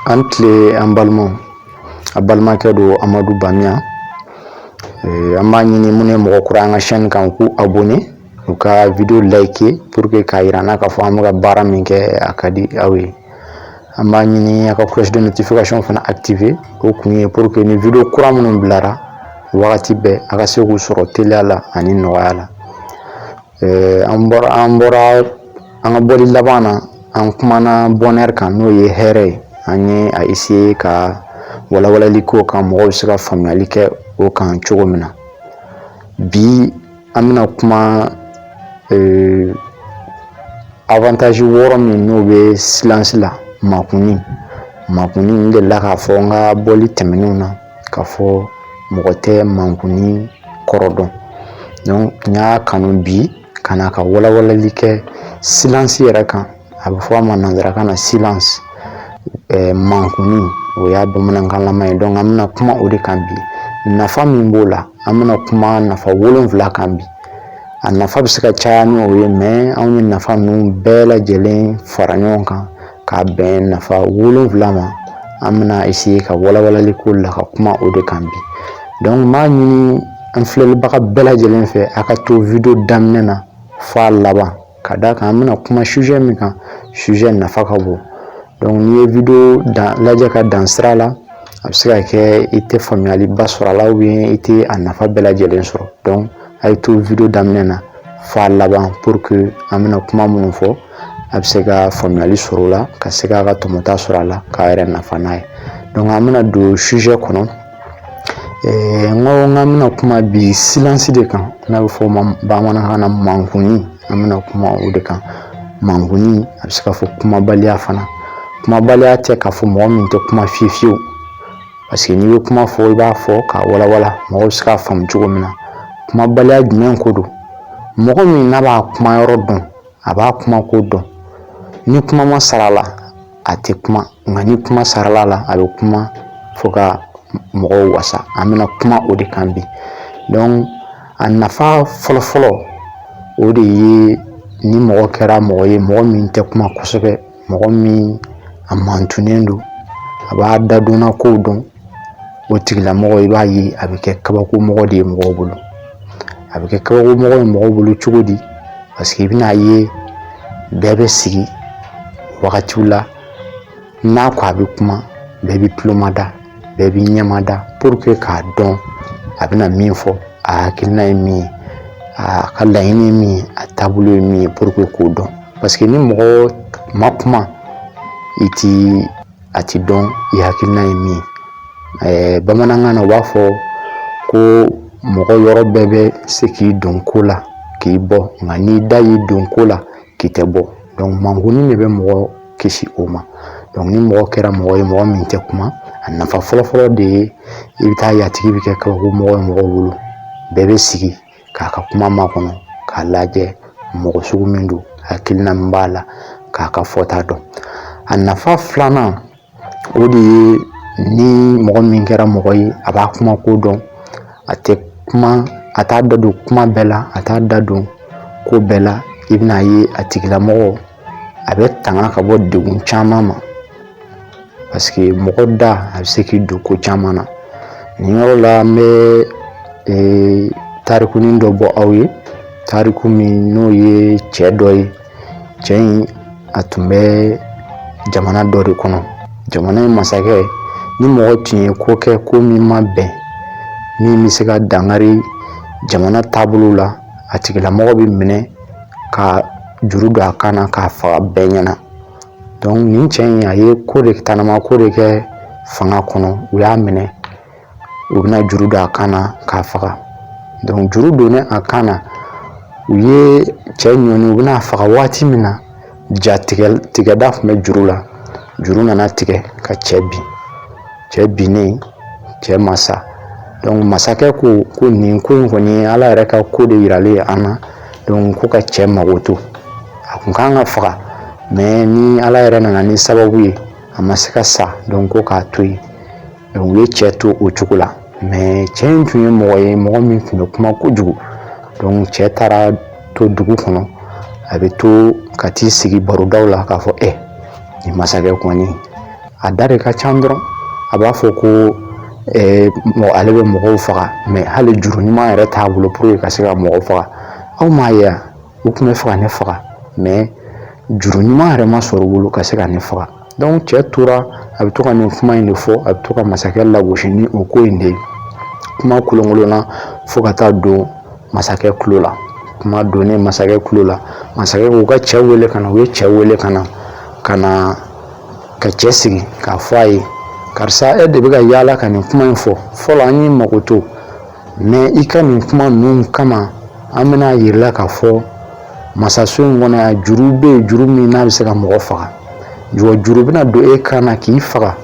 a ni tile an balimaw a balimakɛ don amadu bamiya eh, an b'a ɲini minnu ye mɔgɔ kura an ka chaîne kan k'u abonné u ka video liker pour que k'a yira an na k'a fɔ an bɛ ka baara min kɛ a ka di aw ye an b'a ɲini a ka cloche de notification fana activer o kun ye pour que ni video kura minnu bilara wagati bɛɛ a ka se k'u sɔrɔ teliya la ani nɔgɔya la an bɔra an bɔra an ka bɔli laban na an kumana bonheur kan n'o ye hɛrɛ ye an ye a essayer ka walawalali k'o kan mɔgɔw bɛ se ka faamuyali kɛ o kan cogo min na bi an bɛna kuma ee, avantage wɔɔrɔ min n'o bɛ silence la makunni makunni n delila k'a fɔ n ka bɔli tɛmɛnenw na k'a fɔ mɔgɔ tɛ mankunni kɔrɔ dɔn donc n y'a kanu bi ka na ka walawalali kɛ silence yɛrɛ kan a bɛ fɔ a ma nanzarakan na silence ɛɛ mankuni o y'a bamanankanlama ye donc an bɛna kuma o de kan bi nafa min b'o la an bɛna kuma nafa wolonwula kan bi a nafa bɛ se ka caya ni o ye mais anw ye nafa ninnu bɛɛ lajɛlen fara ɲɔgɔn kan k'a bɛn nafa wolonwula ma an bɛna essayer ka walawalali k'o la ka kuma o de kan bi donc n b'a ɲini an filɛlibaga bɛɛ lajɛlen fɛ a ka to video daminɛ na f'a laban Ka d'a kan an bɛna kuma sujet min kan sujet nafa ka bon donc n'i ye video lajɛ ka dan sira la a bɛ se ka kɛ i tɛ faamuyaliba sɔrɔ a la ou bien i tɛ a nafa bɛɛ lajɛlen sɔrɔ donc a ye to video daminɛ na f'a laban pour que an bɛna kuma minnu fɔ a bɛ se ka faamuyali sɔrɔ o la ka se k'a ka tɔmɔta sɔrɔ a la k'a yɛrɛ nafa n'a ye donc an bɛna don sujet kɔnɔ Ɛɛ n ko n bɛna kuma bi silence de kan n'a bɛ fɔ o ma bamanankan na mankunni an bɛna kuma o de kan mankunni a bɛ se ka fɔ kumabaliya fana kumabaliya tɛ k'a fɔ mɔgɔ min tɛ kuma fiye fiyewu parce que n'i bɛ kuma fɔ i b'a fɔ k'a walawala mɔgɔw bɛ se k'a faamu cogo min na kumabaliya jumɛn ko don mɔgɔ min n'a b'a kuma yɔrɔ dɔn a b'a kuma ko dɔn ni kuma ma sara la a tɛ kuma nka ni kuma sarala la a bɛ kuma fo ka mɔgɔw wasa an bɛna kuma o de kan bi donc a nafa fɔlɔ fɔlɔ o de ye ni mɔgɔ kɛra mɔgɔ ye mɔgɔ min tɛ kuma kosɛbɛ mɔgɔ min a mantunnen don a b'a dadonna kow dɔn o tigilamɔgɔ i b'a ye a bɛ kɛ kabakomɔgɔ de ye mɔgɔw bolo a bɛ kɛ kabakomɔgɔ ye mɔgɔw bolo cogo di paseke i bɛna ye bɛɛ bɛ sigi wagatiw la n'a ko a bɛ kuma bɛɛ bɛ tulomada bɛɛ bɛ ɲɛmada puruke k'a dɔn a bɛna min fɔ a hakilina ye min ye a ka laɲini ye min ye a taabolo ye min ye puruke k'o dɔn paseke ni mɔgɔ ma kuma i ti a tɛ dɔn i hakilina ye min ye bamanankan na u b'a fɔ ko mɔgɔ yɔrɔ bɛɛ bɛ se k'i don ko la k'i bɔ nka n'i da y'i don ko la k'i tɛ bɔ dɔnku makunni de bɛ mɔgɔ kisi o ma dɔnku ni mɔgɔ kɛra mɔgɔ ye mɔgɔ min tɛ kuma a nafa fɔlɔfɔlɔ de ye i bɛ t'a ye a tigi bɛ kɛ kabakomɔgɔ ye mɔgɔw bolo bɛɛ bɛ sigi k'a ka kuma makɔnɔ k'a lajɛ mɔgɔ sugu min don hakilina min b'a la k'a ka fɔta dɔn a nafa filanan o de ye ni mɔgɔ min kɛra mɔgɔ ye a b'a kuma ko dɔn a tɛ kuma a t'a da don kuma bɛɛ la a t'a da don ko bɛɛ la i bɛna ye a tigilamɔgɔ a bɛ tanga ka bɔ degun caman ma paseke mɔgɔ da a bɛ se k'i don ko caman na nin yɔrɔ la n bɛ ee, tarikunin dɔ bɔ aw ye tariku min n'o ye cɛ dɔ ye cɛ in a tun bɛ jamana dɔ de kɔnɔ jamana in masakɛ ni mɔgɔ tun ye ko kɛ ko min ma bɛn min bɛ se ka dankari jamana taabolo la a tigilamɔgɔ bɛ minɛ ka juru don a kan na k'a faga bɛɛ ɲɛna donc nin cɛ in a ye ko de tanama ko de kɛ fanga kɔnɔ u y'a minɛ u bɛna juru don a kan na k'a faga donc juru donnen a kan na u ye cɛ ɲɔni u bɛn'a faga waati min na ja tigɛda tun bɛ juru la juru nana tigɛ ka cɛ bin cɛ binnen cɛ ma sa donc masakɛ ko ko nin ko in kɔni ye ala yɛrɛ ka ko de yiralen ye an na donc ko ka cɛ makoto a tun kan ka faga mais ni ala yɛrɛ nana ni sababu ye a ma se ka sa donc ko k'a to yen u ye cɛ to o cogo la mɛ cɛ in tun ye mɔgɔ ye mɔgɔ min tun bɛ kuma kojugu cɛ taara to dugu kɔnɔ a bɛ to ka t'i sigi barodaw la k'a fɔ e nin masakɛ kɔni a da de ka ca dɔrɔn a b'a fɔ ko mɔgɔ ale bɛ mɔgɔw faga mɛ hali juru ɲuman yɛrɛ t'a bolo pour que ka se ka mɔgɔw faga aw m'a ye wa u tun bɛ fɛ ka ne faga mɛ juru ɲuman yɛrɛ ma sɔrɔ u bolo ka se ka ne faga donc cɛ tora a bɛ to ka nin kuma in de fɔ a bɛ to ka masakɛ lagosi ni o ko in de ye kuma kolonkolonna fo ka taa don masakɛ tulo la kuma donnen masakɛ tulo la masakɛ k'u ka cɛ wele ka na u ye cɛ wele ka na ka cɛ sigi k'a fɔ a ye karisa e de bɛ ka yaala ka nin kuma in fɔ fɔlɔ an y'i mago to mais i ka nin kuma ninnu kama an bɛn'a yir'i la k'a fɔ masaso in kɔnɔ yan juru bɛ yen juru min n'a bɛ se ka mɔgɔ faga juru bɛna don e kan na k'i faga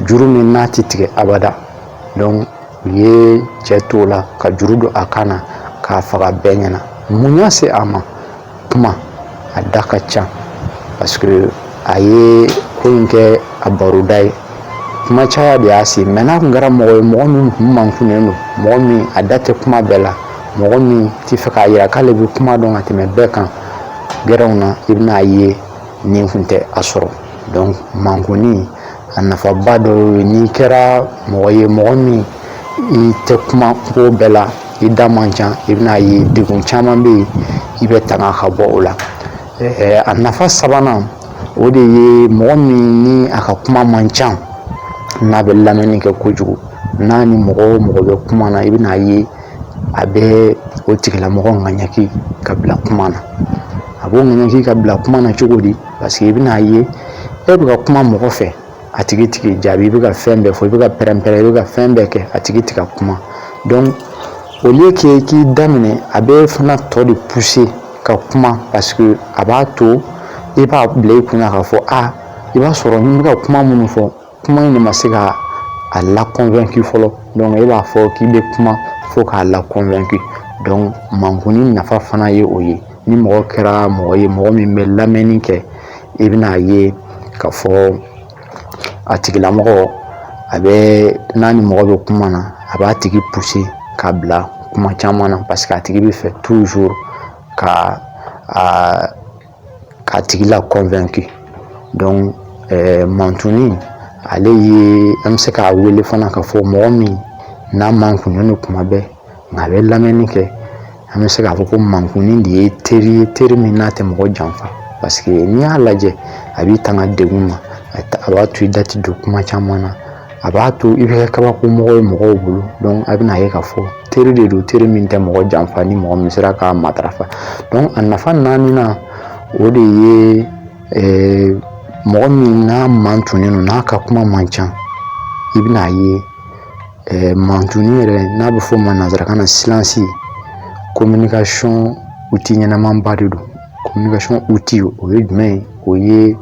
juru min n'a tɛ tigɛ abada donc u ye cɛ t'o la ka juru don a kan na k'a faga bɛɛ ɲɛna mun y'a se a ma kuma a da ka ca parce que a ye ko in kɛ a baroda ye kuma caya de y'a se a ma n'a tun kɛra mɔgɔ ye mɔgɔ min tun mankunnen don mɔgɔ min a da tɛ kuma bɛɛ la mɔgɔ min tɛ fɛ k'a yira k'ale bɛ kuma dɔn ka tɛmɛ bɛɛ kan gɛrɛnw na i bɛn'a ye nin kun tɛ a sɔrɔ donc mankunni a nafaba dɔ ye n'i kɛra mɔgɔ ye mɔgɔ min i tɛ kuma ko bɛɛ la i da man ca i bɛna ye degun caman bɛ yen i bɛ tanga ka bɔ o la a nafa sabanan o de ye mɔgɔ min ni a ka kuma man ca n'a bɛ lamɛnni kɛ kojugu n'a ni mɔgɔ o mɔgɔ bɛ kuma na i bɛna ye a bɛ o tigilamɔgɔ ŋaɲaki ka bila kuma na a b'o ŋaɲaki ka bila kuma na cogo di Parce que i bɛna a ye e bɛ ka kuma mɔgɔ fɛ a tigi tɛ k'i jaabi i bɛ ka fɛn bɛɛ fɔ i bɛ ka pɛrɛnpɛrɛn i bɛ ka fɛn bɛɛ kɛ a tigi tɛ ka kuma donc au lieu que k'i da minɛ a bɛ fana tɔ de pousser ka kuma parce que a b'a to i b'a bila i kun na k'a fɔ a i b'a sɔrɔ n bɛ ka kuma minnu fɔ kuma in de ma se ka a la convaincu fɔlɔ donc e b'a fɔ k'i bɛ kuma fo k'a la convaincu donc mankunni nafa fana ye o ye ni mɔgɔ kɛra mɔgɔ ye mɔgɔ min bɛ lamɛnni kɛ i bɛn'a ye k'a fɔ a tigilamɔgɔ a bɛ n'a ni mɔgɔ bɛ kuma na a b'a tigi pousser k'a bila kuma caman na parce que a tigi bɛ fɛ toujours ka k'a tigi la convaincu donc mantunni ale ye an bɛ se k'a wele fana k'a fɔ mɔgɔ min n'a mankunnen kuma bɛɛ nka a bɛ lamɛnni kɛ an bɛ se k'a fɔ ko mankunni de ye teri ye teri min n'a tɛ mɔgɔ janfa parce que n'i y'a lajɛ a b'i tanga degun ma a b'a to i da tɛ don kuma caman na a b'a to i bɛ kɛ kabako mɔgɔ ye mɔgɔw bolo a bɛna ye k'a fɔ teri de don teri min tɛ mɔgɔ janfa ni mɔgɔ min sera k'a matarafa a nafa naaninan o de ye mɔgɔ min n'a mantunnen don n'a ka kuma man ca i bɛna ye mantunni yɛrɛ n'a bɛ fɔ ma nanzarakan na silence communication outil ɲɛnamanba de don communication outil o ye jumɛn ye o ye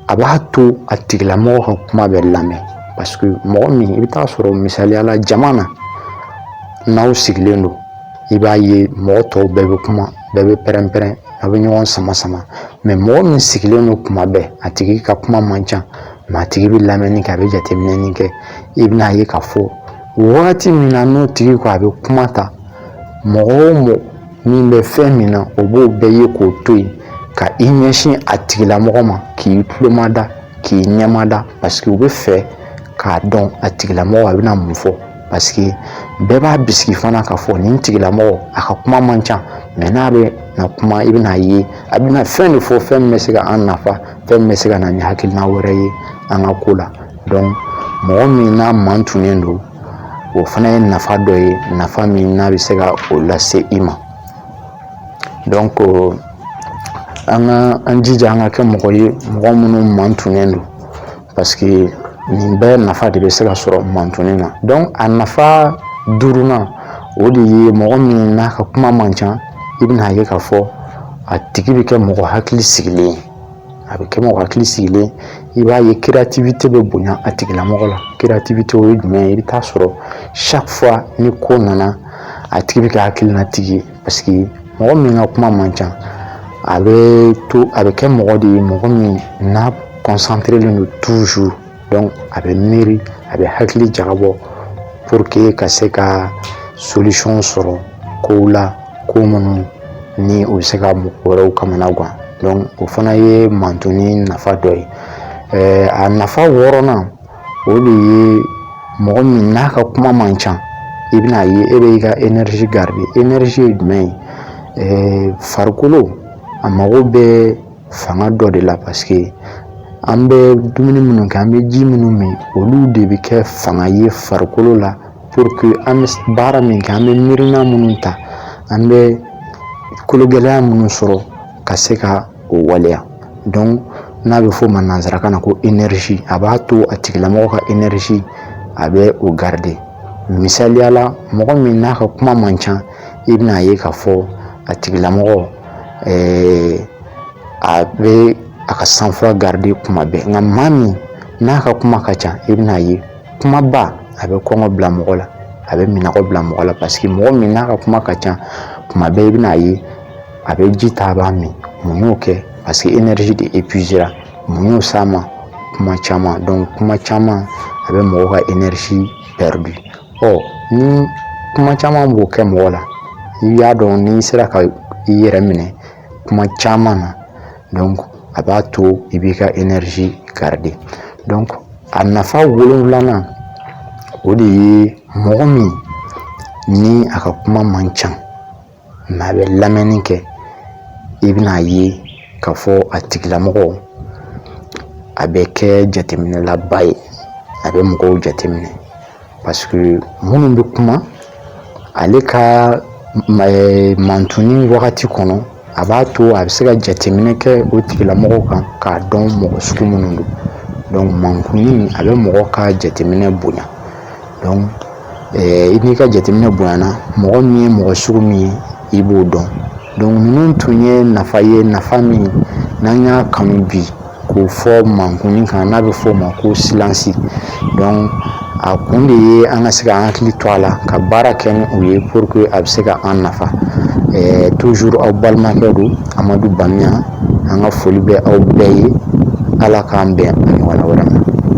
a b'a to a tigilamɔgɔ ka kuma bɛ lamɛn parce que mɔgɔ min i bɛ taa sɔrɔ misaliya la jama na n'aw sigilen don i b'a ye mɔgɔ tɔw bɛɛ bɛ kuma bɛɛ bɛ pɛrɛn-pɛrɛn a bɛ ɲɔgɔn sama sama mais mɔgɔ min sigilen don kuma bɛɛ a tigi ka kuma man ca mais a tigi bɛ lamɛnni kɛ a bɛ jateminɛni kɛ i bɛna ye k'a fɔ wagati min na n'o tigi ko a bɛ kuma ta mɔgɔ o mɔgɔ min bɛ fɛn min na o b'o bɛɛ ye k'o to yen ka i ɲɛsin a tigilamɔgɔ ma k'i tulomada k'i ɲɛmada parce que u bɛ fɛ k'a dɔn a tigilamɔgɔ a bɛna mun fɔ parce que bɛɛ b'a bisigi fana k'a fɔ nin tigilamɔgɔ a ka kuma man ca mais n'a bɛ na kuma i bɛna ye a bɛna fɛn de fɔ fɛn min bɛ se ka an nafa fɛn min bɛ se ka na ni hakilina wɛrɛ ye an ka ko la donc mɔgɔ min n'a mantunnen don o fana ye nafa dɔ ye nafa min n'a bɛ se ka o lase i ma donc an ka an jija an ka kɛ mɔgɔ ye mɔgɔ minnu mantunnen don parce que nin bɛɛ nafa de bɛ se ka sɔrɔ mantunni na donc a nafa duurunan o de ye mɔgɔ min n'a ka kuma man ca i bɛna ye k'a fɔ a tigi bɛ kɛ mɔgɔ hakili sigilen ye a bɛ kɛ mɔgɔ hakili sigilen i b'a ye créativité bɛ bonya a tigilamɔgɔ la créativité o ye jumɛn ye i bɛ taa sɔrɔ chaque fois ni ko nana a tigi bɛ kɛ hakilinatigi ye parce que mɔgɔ min ka kuma man ca a bɛ kɛ mɔgɔ de ye mɔgɔ min n'a concentré len don toujours a bɛ miiri a bɛ hakili jagabɔ pour que ka se ka solution sɔrɔ ko la ko minnu ni o bɛ se ka mɔgɔ wɛrɛw kamana gan donc o fana ye mantunni nafa dɔ ye a nafa wɔɔrɔnan o de ye mɔgɔ min n'a ka kuma man ca i bɛna ye e bɛ i ka énergie garder énergie ye jumɛn ye farikolo a mago bɛ fanga dɔ de la parce que an bɛ dumuni minnu kɛ an bɛ ji minnu min olu de bɛ kɛ fanga ye farikolo la pour que an bɛ baara min kɛ an bɛ miirina minnu ta an bɛ kologɛlɛya minnu sɔrɔ ka se ka o waleya donc n'a bɛ f'o ma nanzarakan na ko énergie a b'a to a tigilamɔgɔ ka énergie a bɛ o garder misaliya la mɔgɔ min n'a ka kuma man ca i bɛna ye k'a fɔ a tigilamɔgɔ a bɛ a ka sang-froid garder kuma bɛɛ nka maa min n'a ka kuma ka ca i bɛna ye kumaba a bɛ kɔngɔ bila mɔgɔ la a bɛ minnɔgɔ bila mɔgɔ la parce que mɔgɔ min n'a ka kuma ka ca kuma bɛɛ i bɛna a ye a bɛ ji ta a b'a min mun y'o kɛ parce que énergie de épuiséra mun y'o s'a ma kuma caman donc kuma caman a bɛ mɔgɔ ka énergie pɛridi ɔ ni kuma caman b'o kɛ mɔgɔ la i y'a dɔn n'i sera ka i yɛrɛ minɛ kuma caman na donc a b'a to i b'i ka énergie garder donc a nafa wolonwulanan o de ye mɔgɔ min ni a ka kuma man ca mais a bɛ lamɛnni kɛ i bɛna a ye k'a fɔ a tigilamɔgɔ a bɛ kɛ jateminɛlaba ye a bɛ mɔgɔw jateminɛ parce que minnu bɛ kuma ale ka mantuni wagati kɔnɔ a b'a to a bɛ se ka jateminɛ kɛ o tigilamɔgɔ kan k'a dɔn mɔgɔ sugu minnu don donc mantuni a bɛ mɔgɔ ka jateminɛ bonya i n'i ka jateminɛ bonyana mɔgɔ min ye mɔgɔ sugu min ye i b'o dɔn donc ninnu tun ye nafa ye nafa min n'an y'a kanu bi k'o fɔ mankuni kan n'a bɛ fɔ o ma ko silence donc a kun de ye an ka se ka hakili to a la ka baara kɛ ni o ye pour que a bɛ se ka an nafa eh, toujours aw balimakɛ don amadu bamiya an ka foli bɛ aw bɛɛ ye ala k'an bɛn a ɲɔgɔnna wɛrɛ ma